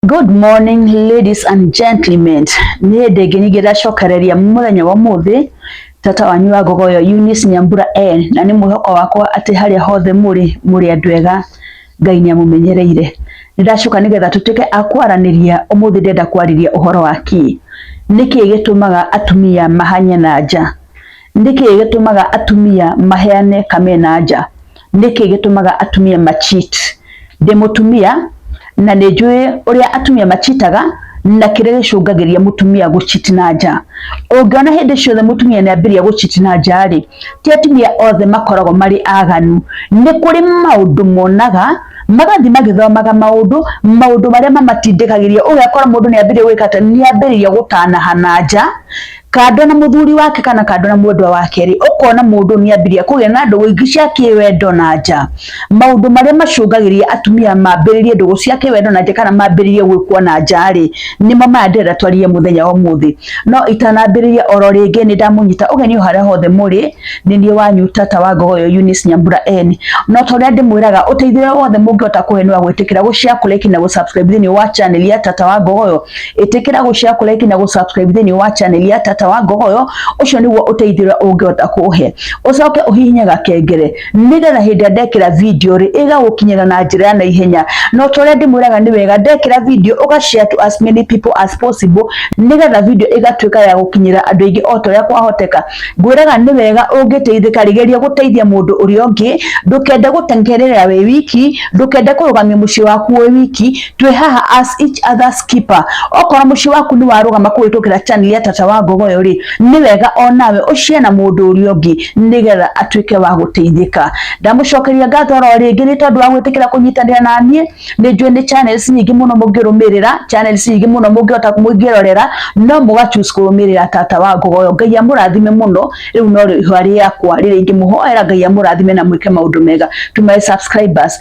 Good morning ladies and gentlemen, niä ndä ngä nyingä ndacokereria mũthenya wa mũthĩ tata wanyu wa ngogo yo Eunice Nyambura N na nä mwĩhoko wakwa atä harĩa hothe mũrĩ mũrĩ andũ ega Ngai nĩ amũmenyereire nĩ ndacoka nĩ getha tũtuĩke a kwaranĩria ũmũthĩ ndenda kwarĩria ũhoro wa kĩ nĩkĩ gĩtũmaga atumia mahanye na nja Nĩ kĩĩ gĩtũmaga atumia maheane kamena nja? Nĩ kĩĩ gĩtũmaga atumia ma cheat? Ndĩ mũtumia na nĩ njũĩ ũrĩa atumia machitaga na kĩrĩa gĩcũngagĩria mũtumia gũchiti na nja. Ũngĩona hĩndĩ ciothe mũtumia nĩ ambĩrĩria gũchiti na nja rĩ, ti atumia othe makoragwo marĩ aganu. Nĩ kũrĩ maũndũ monaga magathiĩ magĩthomaga maũndũ, maũndũ marĩa mamatindĩkagĩria. Ũgakora mũndũ nĩ ambĩrĩria gwĩka atĩ, nĩ ambĩrĩria gũtanaha na nja kando na muthuri wake kana kando na mwendwa wake ri ukona mundu ni ambiria kugia na ndugu ingi cia kiwendo na nja maundu maria macungagiria atumia mambiririe ndugu cia kiwendo na nja kana mambiririe gwikwo na nja ri nimo maya ndĩrenda twarie muthenya wa muthi no itanambiriria oro ringi ni ndamunyita ugeni haria hothe muri ni nie wanyu tata wa ngogo yo Eunice Nyambura N no to ria ndimwiraga uteithio wothe mungihota kuhe ni wa gwitikira gushare kuleki na gusubscribe thini wa channel ya tata wa ngogo yo itikira gushare ku like na gu subscribe thini wa channel ya tata wa ngogoyo ucio niguo uteithira ungihota kuhe ucoke uhihinye gakengere nigetha hindi ndekira video ri iga gukinyira na njira ya ihenya no tore ndimwiraga ni wega ndekira video uga share to as many people as possible nigetha video igatuika ya gukinyira andu ingi o toria kwahoteka ngwiraga ni wega ungiteithika rigeria guteithia mundu uri ungi ndukende gutengerera we wiki ndukende kurugamia mucii waku we wiki twĩ haha as each other's keeper okorwo muciĩ waku nĩ warũgama kũhĩtũkĩra channel ya tata wa ngogoyo rĩ nĩ wega onawe ũcie na mũndũ ũrĩa ũngĩ nĩgetha atuĩke wa gũteithĩka ndamucokeria ngatho oro rĩngĩ nĩ tondũ wa gwĩtĩkĩra kũnyitanĩra na niĩ nĩ njũĩ nĩ channels nyingĩ mũno mũngĩrũmĩrĩra channels nyingĩ mũno mũngĩhota mũngĩrorera no mũga choose kũrũmĩrĩra tata wa ngogoyo ngai amũrathime mũno rĩu no rĩhwa rĩakwa rĩrĩa ingĩmũhoera ngai amũrathime na mwĩke maũndũ mega to my subscribers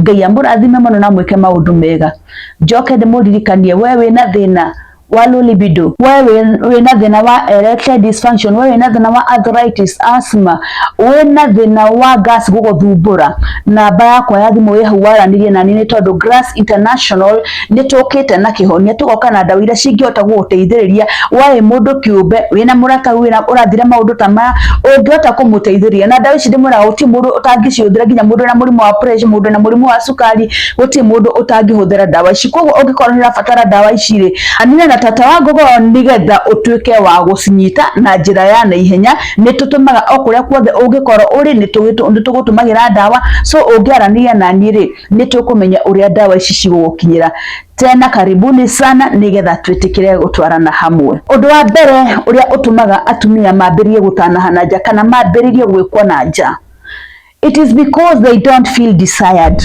Ngai amũrathime mũno na mwĩke maũndũ mega. Njoke ndĩmũririkanie we wĩna thĩna wa low libido, we wĩna thĩna wa erectile dysfunction, we wĩna thĩna wa arthritis, asthma, wĩna thĩna wa gas gũgũthumbũra, namba yakwa ya thimũ ĩhau waranĩrie nani nĩ tondũ Grass International nĩ tũkĩte na kĩhonia tũgoka na ndawa iria cingĩhota gũgũteithĩrĩria waĩ mũndũ kĩũmbe wĩna mũrata wĩna ũrathira maũndũ ta maya ũngĩhota kũmũteithĩrĩria na ndawa ici ndĩmwĩraga gũtirĩ mũndũ ũtangĩcihũthĩra nginya mũndũ wĩna mũrimũ wa pressure mũndũ wĩna mũrimũ wa cukari gũtirĩ mũndũ ũtangĩhũthĩra ndawa ici koguo ũngĩkorwo nĩ ũrabatara ndawa ici rĩ anina na tata wa ngogo nĩgetha ũtuĩke wa gũcinyita na njĩra ya naihenya nĩ tũtũmaga o kũrĩa kuothe ũngĩkorwo ũrĩ nĩ tũgũtũmagĩra ndawa so ũngĩaranĩria na niĩ rĩ nĩ tũkũmenya ũrĩa ndawa ici cigũgũkinyĩra tena karibuni sana nigetha twĩtĩkĩre gũtwarana hamwe ũndũ wa mbere ũrĩa ũtũmaga atumia mambĩrĩrie gũtanaha na nja kana mambĩrĩrie gwĩkwo na nja it is because they don't feel desired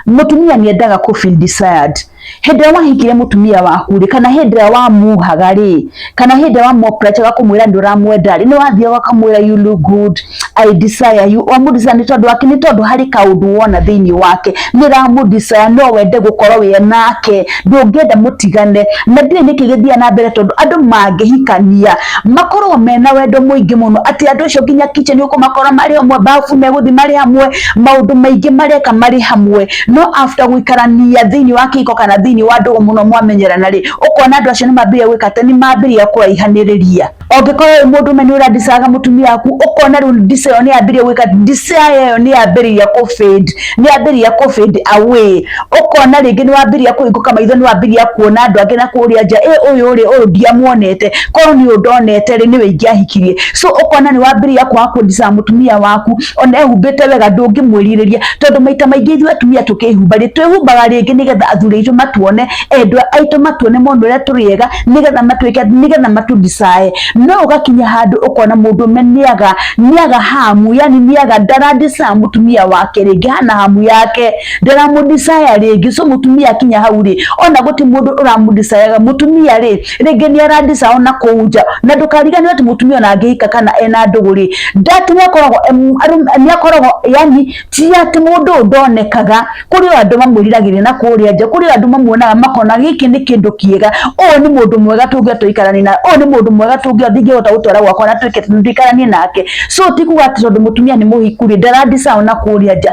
mutumia niendaga ku feel desired hĩndĩ ĩrĩa wahikire mũtumia waku rĩ kana hĩndĩ ĩrĩa wamuhaga rĩ kana hĩndĩ ĩrĩa wamuoprechaga kũmwĩra nĩ ũramwenda rĩ nĩ wathiaga ũkamwĩra you look good I desire you wamũdesire nĩ tondũ wake nĩ tondũ harĩ kaũndũ wona thĩinĩ wake nĩ ũramũdesire no wende gũkorwo wĩ nake ndũngĩenda mũtigane na ndiũĩ nĩkĩ gĩthiaga na mbere tondũ andũ mangĩhikania makorwo mena wendo mũingĩ mũno atĩ andũ acio nginya kitchen ũkũmakora marĩ amwe bafu megũthiĩ marĩ amwe maũndũ maingĩ mareka marĩ hamwe no after gũikarania thĩinĩ wa kĩhiko kana thĩinĩ wa ndũgũ mũno mwamenyerana rĩ ũkona andũ acio nĩ mambĩrĩria gwĩka atĩ nĩ mambĩrĩria kũraihanĩrĩria ũngĩkorwo wĩ mũndũ ũme nĩ ũrandicaga mũtumia waku ũkona rĩu mbica ĩyo nĩ yambĩrĩria gwĩka mbica ĩyo nĩ yambĩrĩria kũ fade nĩ yambĩrĩria kũ fade away ũkona rĩngĩ nĩ wambĩrĩria kũhingũka maitho nĩ wambĩrĩria kuona andũ angĩ na kũrĩa nja ĩ ũyũ rĩ ũyũ ndiamuonete korwo nĩ ũyũ ndonete rĩ nĩwe ingĩahikirie so ũkona nĩ wambĩrĩria kwaga kũndicaga mũtumia waku ona ehumbĩte wega ndũngĩmwĩrirĩria tondũ maita maingĩ ithuĩ atumia tũkĩhumba rĩ twĩhumbaga rĩngĩ nĩgetha athuri aitũ matuone endwa aitũ matuone mone ũrĩa tũrĩ ega nĩgetha matuĩke nĩgetha matũdicae no ũgakinya handũ ũkona mũndũ ũme nĩaga nĩaga hamu yani nĩaga ndaradicae mũtumia wake rĩngĩ hana hamu yake ndaramũdicae rĩngĩ so mũtumia akinya hau rĩ ona gũti mũndũ ũramũdicayaga mũtumia rĩ rĩngĩ nĩ arandicaho na kũu nja na ndũkariganĩrwo atĩ mũtumia ona angĩhika kana ena ndũgũ rĩ ndati nĩ akoragwo em, arũ- nĩ akoragwo yani ti atĩ mũndũ ũyũ ndonekaga kũrĩ o andũ mamwĩriragĩria na kũrĩa nja kũrĩ o andũ mamuonaga makona gĩkĩ nĩ kĩndũ kĩega ũyũ nĩ mũndũ mwega tũngĩa tũikaranie na ũyũ nĩ mũndũ mwega tũngĩa ndingĩhota gũtwara gwakwa na twĩke tũikaranie nake so ti kuga atĩ tondũ mũtumia nĩ mũhiku rĩ ndarandicaho na kũrĩa nja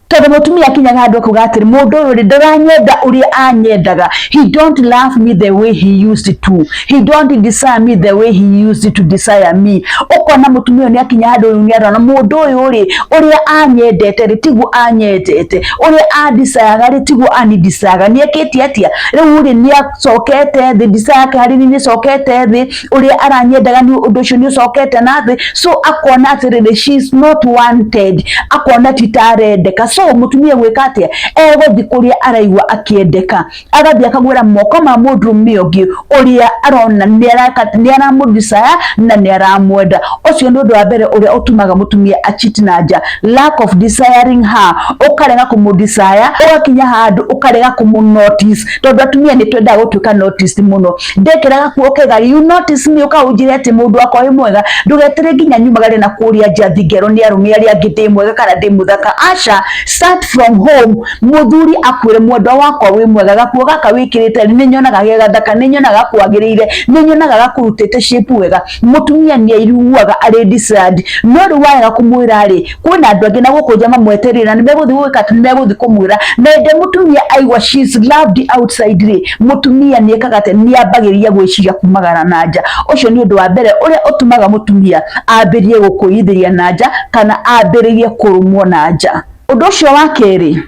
Tondũ mũtumia akinyaga handũ akauga atĩrĩ mũndũ ũyũ rĩ ndaranyenda ũrĩa anyendaga he don't love me the way he used to he don't desire me the way he used to desire me ũkona mũtumia ũyũ nĩ akinya handũ rĩu nĩ arona mũndũ ũyũ rĩ ũrĩa anyendete rĩ tiguo anyendete ũrĩa andisayaga rĩ tiguo anidisayaga nĩ ekĩte atĩa rĩu rĩ nĩ acokete thĩ desire yake harĩ niĩ nĩ ĩcokete thĩ ũrĩa aranyendaga nĩ ũndũ ũcio nĩ ũcokete na thĩ so akona atĩrĩrĩ she is not wanted akona ti ta arendeka so mũtumia gwĩka atĩa egũthiĩ kũrĩa araigua akĩendeka agathiĩ akagwĩra moko ma mũndũrũme ũngĩ ũrĩa arona nĩ araka- nĩ aramũdesire na nĩ aramwenda ũcio nĩ ũndũ wa mbere ũrĩa ũtumaga mũtumia achiti na nja lack of desiring her ũkarega kũmũdesire ũgakinya handũ ũkarega kũmũnotice tondũ atumia nĩ twendaga gũtuĩka noticed mũno ndekeraga kuo kega you notice me uka unjire ati mundu akwa wi mwega ndugetire nginya nyumagare na kuria njathi ngero ni arume aria angi ndi mwega kana ndi muthaka asha start from home muthuri akwire mwendwa wakwa wi mwega gakuo gaka wikirite ni nyonaga ge gathaka ni nyonaga kwagirire ni nyonaga gakurutite shape wega mutumia ni aiguaga ari disturbed no ri waga kumwira ri kwina andu angi na guku jama mweterire na nimeguthi gwika ati nimeguthi kumwira mende mutumia aigua she is loved outside ri mutumia ni ekaga ati ni ambagiria gwiciria kumagara na nja ucio ni undu wa mbere uria utumaga mutumia ambirie gukuithiria na nja kana ambirie kurumwo na nja undu ucio wa keri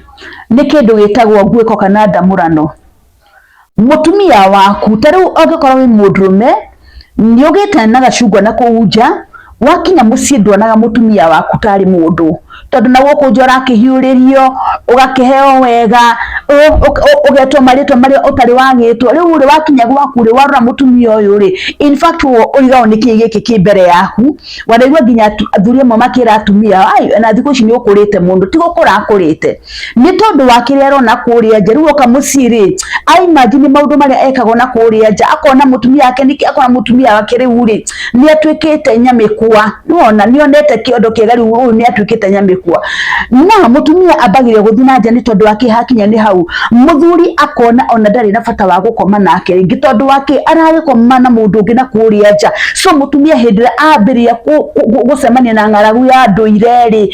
ni kindu gitagwo nguiko kana ndamurano mũtumia waku ta rĩu angĩkorwo wĩ mũndũrũme nĩ ũgĩte na gacungwa na kũu nja wakinya mũciĩ nduonaga mũtumia waku tarĩ mũndũ tondũ na gũkũ nja ũrakĩhiũrĩrio ũgakĩheo wega ũ- ũk- ũ- ũgetwo marĩtwa marĩa ũtarĩ wagĩtwo rĩu rĩ wakinya gwaku rĩ warora mũtumia ũyũ rĩ in fact wo ũigao nĩ kĩĩ gĩkĩ kĩ mbere yaku wanaigua nginya atu- athuri amwe makĩra atumia ao ai na thikũ ici nĩ ũkũrĩte mũndũ ti gũkũra akũrĩte nĩ tondũ wa kĩrĩa arona kũrĩa nja rĩu oka mũciĩ rĩ aimanji nĩ maũndũ marĩa ekagwo na kũrĩa nja akona mũtumia wake nĩkĩ akona mũtumia wake rĩu rĩ nĩ atuĩkĩte nyamĩkwa nĩwona nĩ onete kĩondo kĩega rĩu ũyũ nĩ atuĩkĩte nyamĩkwa na mũtumia ambagĩrĩria gũthiĩ na nja nĩ tondũ wa kĩ hakinya nĩ hau mũthuri akona ona ndarĩ na bata wa gũkoma nake rĩngĩ tondũ wa kĩ aragĩkoma na mũndũ ũngĩ na kũrĩa nja so mũtumia hĩndĩ ĩrĩa ambĩrĩria gũcemania na ng'aragu ya ndũire rĩ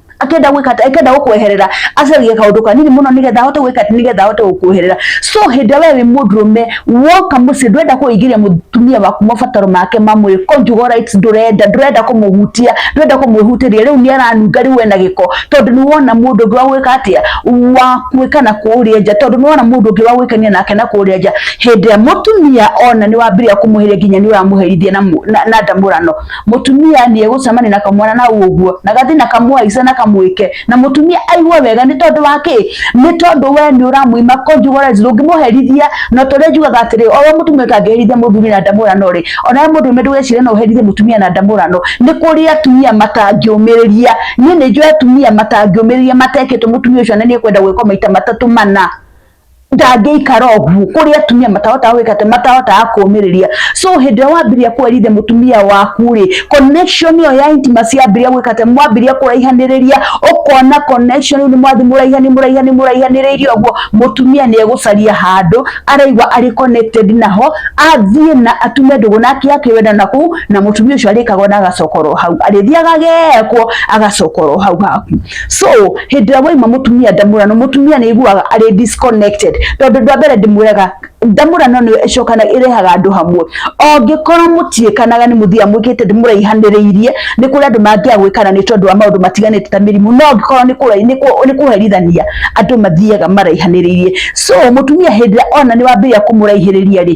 akenda gwika akenda gukweherera acarie kaundu kanini muno nigetha ahote gwika nigetha ahote gukweherera so hindi we wi mudrume woka muci ndwenda kuingiria mutumia waku mabataro make ma mwiri ko njugo right ndurenda ndurenda kumuhutia ndurenda kumwihutiria riu niaranunga riu ena giko tondu ni wona mundu ngi wa gwika atia wa gwika na kuria nja tondu ni wona mundu ngi wa gwikania nake na kuria nja hindi ya mutumia ona ni wambiria kumuhiria nginya ni uramuherithia na na ndamurano mutumia ni egucemania na kamwana na uguo na gathi na kamwaice na kamwike na mutumia aigua wega ni tondu wa ki ni tondu we ni uramuima conjugalezi ndungimuherithia no turia njugaga atiri oyo mutumia kangiherithia muthuri na ndamurano ri ona we mundu ndugecire no uherithie mutumia na ndamurano ni kuri atumia matangiumiriria ni ni njui atumia matangiumiriria matekitwo mutumia ucio na ni ekwenda gwikwo maita matatu mana ndangĩikara ũguo kũrĩ atumia matahotaga gwĩka atĩ matahotaga kũmĩrĩria so hĩndĩ ĩrĩa wambĩrĩria kwerithia mũtumia waku rĩ connection ĩyo ya intimacy yambĩrĩria gwĩka atĩ mwambĩrĩria kũraihanĩrĩria ũkona connection rĩu nĩ mwathiĩ mũraihani mũraihani mũraihanĩrĩirie ũguo mũtumia nĩ egũcaria handũ araigua arĩ connected naho athiĩ na atume ndũgũ nake akĩwenda na kũu na mũtumia ũcio arĩkaga na agacokorwo hau arĩthiaga agekwo agacokorwo hau haku so hĩndĩ ĩrĩa waima mũtumia ndamũrano mũtumia nĩ aiguaga arĩ disconnected tondũ ndwa mbere ndĩmwĩraga ndamũrano nĩyo ĩcokana ĩrehaga andũ hamwe ongĩkorwo mũtiĩkanaga nĩ mũthia mwĩkĩte ndĩmũraihanĩrĩirie nĩ kũrĩ andũ mangĩa gwĩkana nĩ tondũ wa maũndũ matiganĩte ta mĩrimũ no ongĩkorwo nĩ kũherithania andũ mathiaga maraihanĩrĩirie so mũtumia hĩndĩ ĩrĩa ona nĩ wambĩrĩria kũmũraihĩrĩria rĩ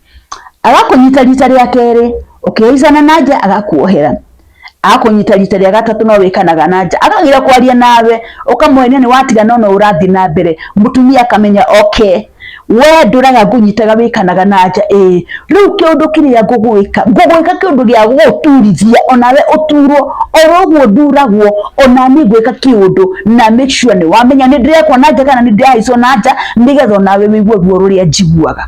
agakũnyita rita rĩa kerĩ ũkĩhaicana na nja agakuohera akũnyita rita rĩa gatatũ no wĩkanaga na nja akagira kwaria nawe ũkamwenia nĩ watiga no no ũrathiĩ na mbere mũtumia akamenya okay we ndũraga ngũnyitaga wĩkanaga na nja ĩĩ rĩu kĩũndũ kĩrĩa ngũgwĩka ngũgwĩka kĩũndũ gĩa gũgũturithia onawe ũturwo oro ũguo nduragwo ona niĩ ngwĩka kĩũndũ na make sure nĩ wamenya nĩ ndĩrekwo na nja kana nĩ ndĩrahaicwo na nja nĩgetha onawe wĩigue guo rũrĩa njiguaga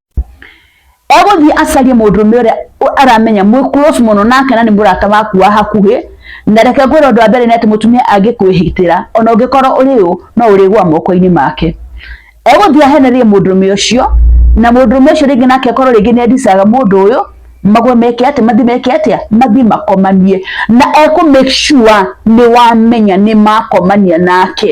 egũthiĩ acarie mũndũrũme ũrĩa ũ- aramenya mwĩ close mũno nake na nĩ mũrata waku wa hakuhĩ na reke ngwĩra ũndũ wa mbere nĩ atĩ mũtumia angĩkwĩhĩtĩra ona ũngĩkorwo ũrĩ ũ no ũrĩgwa moko-inĩ make egũthiĩ ahenerie mũndũrũme ũcio na mũndũrũme ũcio rĩngĩ nake akorwo rĩngĩ nĩ endicaga mũndũ ũyũ magwe meke atĩa mathi meke atĩa mathi makomanie na ekũ make sure nĩ wamenya nĩ makomania nake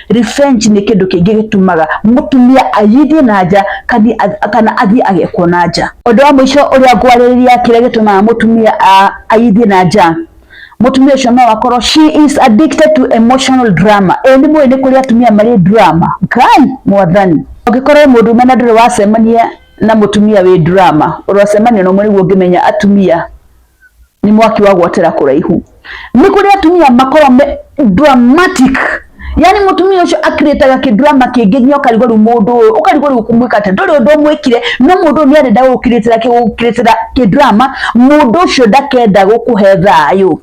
Revenge nĩ kĩndũ kĩngĩ gĩtumaga mũtumia ayithie na nja kana athiĩ agekwo na nja. Ũndũ wa mũico ũrĩa ngwarĩrĩria kĩrĩa gĩtũmaga mũtumia ayithie na nja, mũtumia ũcio no akorwo she is addicted to emotional drama. Ĩĩ nĩ mũĩ nĩ kũrĩ atumia marĩ drama? Ngai mwathani! Ũngĩkorwo wĩ mũndũme na ndũrĩ wacemania na mũtumia wĩ drama, ũrocemania na ũmwe nĩguo ũngĩmenya atumia. nĩ mwaki wa gwatĩra kũraihu nĩ kũrĩ atumia makorwo me dramatic yani mutumia ucio akiritaga kidrama kingi nginya ukarigwo riu mundu uyu ukarigwo riu kumwika ati nduri undu mwikire no mundu uyu niarenda gukiritira gukiritira kidrama mundu ucio ndakenda gukuhe thayu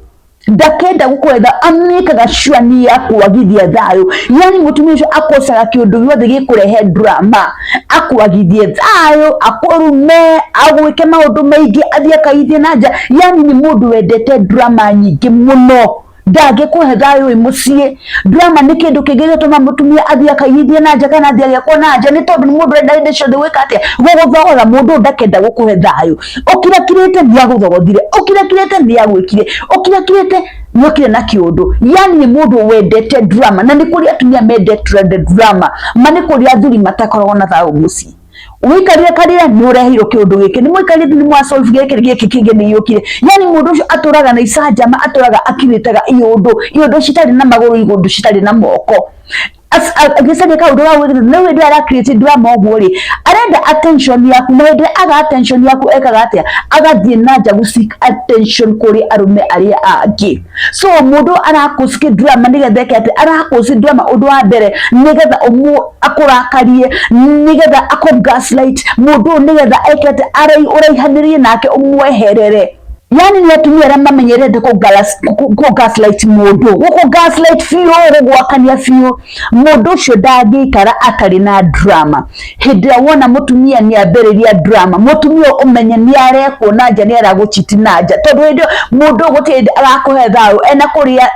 ndakenda gukwetha amikaga sure ni ya kwagithia thayo yani mutumia ucio akosaga kiundu giothe gikurehe drama akuagithie thayo akurume agwike maundu maingi athie akaithie na nja yani ni mundu wendete drama nyingi muno ndangĩkũhe thayũ wĩ mũciĩ drama nĩ kĩndũ kĩngĩ gĩtũma mũtumia athiĩ akaigithie na nja kana athiĩ agĩakwo na nja nĩ tondũ nĩ mũndũ ũrenda hĩndĩ ciothe gwĩka atĩa gũgũthogotha mũndũ ndakenda gũkũhe thayũ ũkirakirĩte nĩ agũthogothire ũkirakirĩte nĩ agwĩkire ũkirakirĩte nĩokire na kĩũndũ yani nĩ mũndũ wendete drama na nĩ kũrĩ atumia mendete drama ma nĩ kũrĩ athuri matakoragwo na thayũ mũciĩ ũikarire karĩa nĩ ũreheirwo kĩũndũ gĩkĩ nĩ mũikarire nĩ mwa solve gĩkĩ gĩkĩ kĩngĩ nĩ yũkire yani mũndũ ũcio atũraga na icanjama atũraga akirĩtaga iũndũ iũndũ citarĩ na magũrũ iũndũ citarĩ na moko agĩca nĩ kaũndũ ga gwĩkĩra no hĩndĩ ara create drama ũguo rĩ arenda attention yaku na hĩndĩ aga attention yaku ekaga atĩa agathiĩ na nja gũ seek attention kũrĩ arũme arĩa angĩ so mũndũ arakũciki drama nĩgetha eke atĩ arakũci drama ũndũ wa mbere nĩgetha ũmũ akũrakarie nĩgetha akũ gaslight mũndũ ũyũ nĩgetha eke atĩ ũraihanĩrie nake ũmweherere yani nĩ atumia arĩa mamenyerete kũ gaslight mũndũ gũkũ gaslight biũ gũgwakania biũ mũndũ ũcio ndangĩikara atarĩ na drama hĩndĩ ĩrĩa wona mũtumia nĩ ambĩrĩria drama mũtumia ũmenye nĩ arekwo na nja nĩ aragũchiti na nja tondũ hĩndĩ mũndũ gũtirĩ arakũhe thayũ ena kũrĩa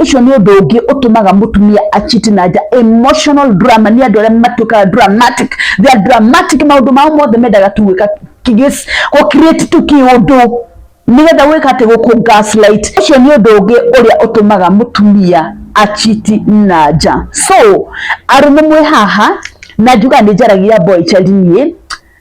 Ũcio nĩ ũndũ ũngĩ ũtũmaga mũtumia a cheat na nja, emotional drama. Nĩ andũ arĩa matuĩkaga dramatic, they are dramatic, maũndũ mao mothe mendaga tu gwĩka gũ create tu kĩũndũ nĩgetha gwĩka atĩ gũkũ gaslight. Ũcio nĩ ũndũ ũngĩ ũrĩa ũtũmaga mũtumia a cheat na nja. So arũme mwĩ haha na njugaga nĩ njaragia boy child niĩ,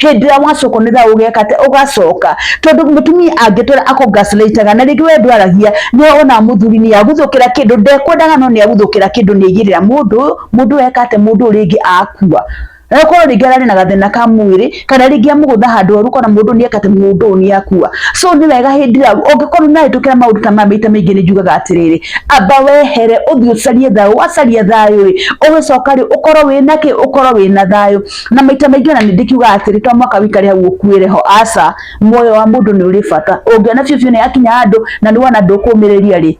hĩndĩ ĩrĩa wacoka nĩ thaa ũgeka atĩ ũgacoka tondũ mũtumia angĩtwĩra akũngacĩrĩitaga na rĩngĩ we ndwaragia nĩ ona mũthuri nĩ agũthũkĩra kĩndũ ndekwendaga no nĩ agũthũkĩra kĩndũ nĩ aigĩrĩra mũndũ mũndũ eka atĩ mũndũ ũyũ rĩngĩ akua na korwo rĩngĩ ararĩ na gathĩna ka mwĩrĩ kana rĩngĩ amũgũtha handũ oru kana mũndũ nĩ eka atĩ mũndũ ũyũ nĩ akua so nĩ wega hĩndĩ ĩrĩa ũngĩkorwo nĩ arĩtũkĩra maũndũ ta maya maita maingĩ nĩ njugaga atĩrĩrĩ amba wehere ũthiĩ ũcarie thayũ wacaria thayũ rĩ ũgĩcoka rĩ ũkorwo wĩna kĩ ũkorwo wĩna thayũ na maita maingĩ ona nĩndĩkiuga atĩrĩ to mwaka wikare hau ũkuĩre ho aca muoyo wa mũndũ nĩ ũrĩ bata ũngĩona biũ biũ nĩ yakinya handũ na nĩ wona ndũkũmĩrĩria rĩ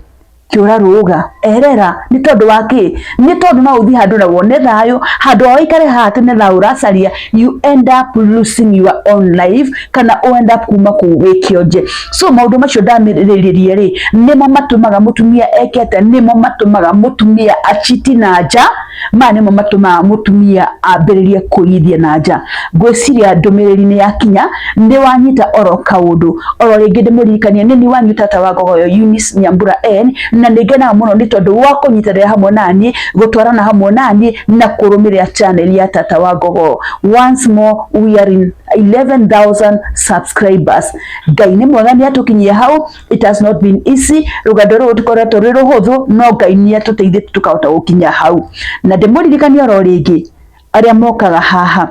kĩũra rũga erera nĩ tondũ wa kĩ nĩ tondũ no ũthiĩ handũ na wone thayũ handũ wa ũikare haha atĩ nĩ thayũ ũracaria you end up losing your own life kana u end up kuma kũu wĩ kĩonje so maũndũ macio ndamĩrĩrĩrie rĩ nĩmo matũmaga mũtumia eke atĩa nĩmo matũmaga mũtumia achiti na nja Maya nĩmo matũmaga mũtumia ambĩrĩrie kũigithia na nja. Ngwĩciria ndũmĩrĩri nĩ yakinya, nĩ wanyita oro kaũndũ. Oro rĩngĩ ndĩmũririkanie nĩ niĩ wanyu tata wa ngogo yo Eunice Nyambura N, na nĩ ngenaga mũno nĩ tondũ wa kũnyitanĩra hamwe na niĩ, gũtwarana hamwe na niĩ na kũrũmĩrĩra channel ya tata wa ngogo. Once more we are in 11,000 subscribers. Ngai nĩ mwega nĩ atũkinyia hau. it has not been easy rugendo ruru tikoretwo rwi ruhuthu no ngai ni atuteithĩtie tukahota gukinya hau na ndĩmũririkania oro rĩngĩ arĩa mokaga haha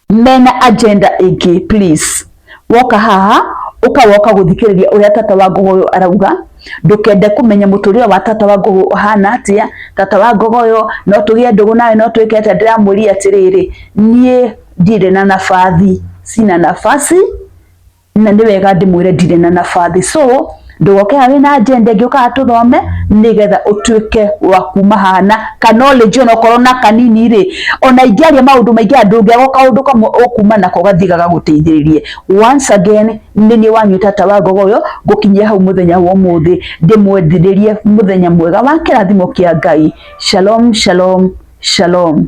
mena agenda ĩngĩ please woka haha ukawoka guthikiriria uria tata wa ngogo uyu arauga ndukende kumenya muturire wa tata wa ngogo uhana atia tata wa ngogo uyu no tugie ndugu nawe no twike atia ndiramuri atiriri nie ndire na nabathi sina nafasi na nĩ wega ndĩmwĩre ndirĩ na nabathi so ndũgoke haha wĩna agenda ĩngĩ ũkaga tũthome nĩgetha ũtuĩke wa kuma haha na ka knowledge ona okorwo na kanini rĩ ona ingĩaria maũndũ maingĩ andũ ngĩaga kaũndũ kamwe ũkuma nako gathiĩ gagagũteithĩrĩrie once again nĩ niĩ wanyu tata wa ngogo ũyũ ngũkinyia hau mũthenya wa ũmũthĩ ndĩmwendithĩrie mũthenya mwega wa kĩrathimo kĩa ngai shalom shalom shalom